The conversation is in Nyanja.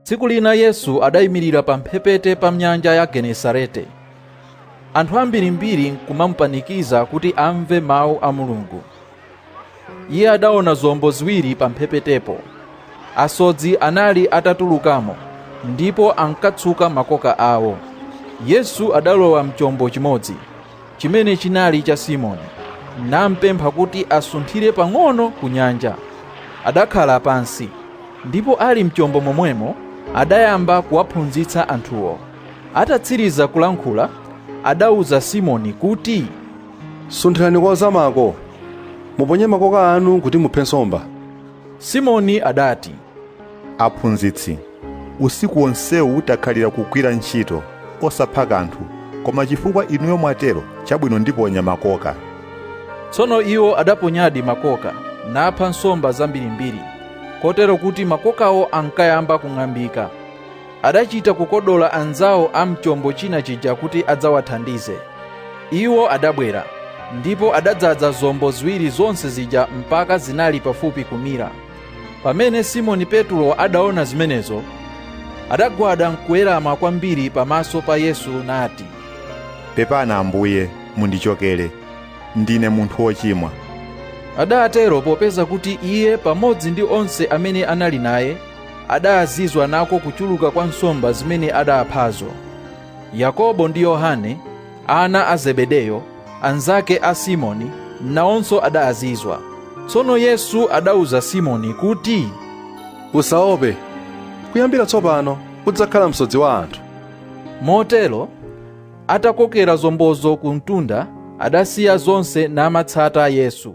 tsiku lina yesu adayimirira pamphepete pa nyanja ya genesarete anthu ambirimbiri nkumamupanikiza kuti amve mawu a mulungu iye adaona zombo ziwiri pamphepetepo asodzi anali atatulukamo ndipo ankatsuka makoka awo yesu adalowa mchombo chimodzi chimene chinali cha Simoni, nampempha kuti asunthire pang'ono ku nyanja. Adakhala pansi, ndipo ali mchombo momwemo adayamba kuwaphunzitsa anthuwo. Atatsiriza kulankhula, adauza Simoni kuti, Sunthirani kozamako, muponye makoka anu kuti muphe nsomba. Simoni adati, Aphunzitsi, usiku wonsewu takhalira kugwira ntchito, osapha kanthu, koma chifukwa inuyo mwatero, chabwino ndiponya makoka. Tsono iwo adaponyadi makoka, napha nsomba zambirimbiri, kotero kuti makokawo ankayamba kung'ambika. Adachita kukodola anzawo a m'chombo china chija kuti adzawathandize. Iwo adabwera, ndipo adadzaza zombo ziwiri zonse zija mpaka zinali pafupi kumira. pamene simoni petulo adaona zimenezo adagwada nkuwerama kwambiri pamaso pa yesu nati pepani ambuye mundichokere ndine munthu wochimwa adatero popeza kuti iye pamodzi ndi onse amene anali naye adazizwa nako kuchuluka kwa nsomba zimene adaphazo yakobo ndi yohane Ana a Zebedeyo, anzake a Simoni, nawonso adazizwa. Tsono Yesu adauza Simoni kuti, Usaope, kuyambira tsopano udzakhala msodzi wa anthu. Motero, atakokera zombozo kumtunda, adasiya zonse namatsata Yesu.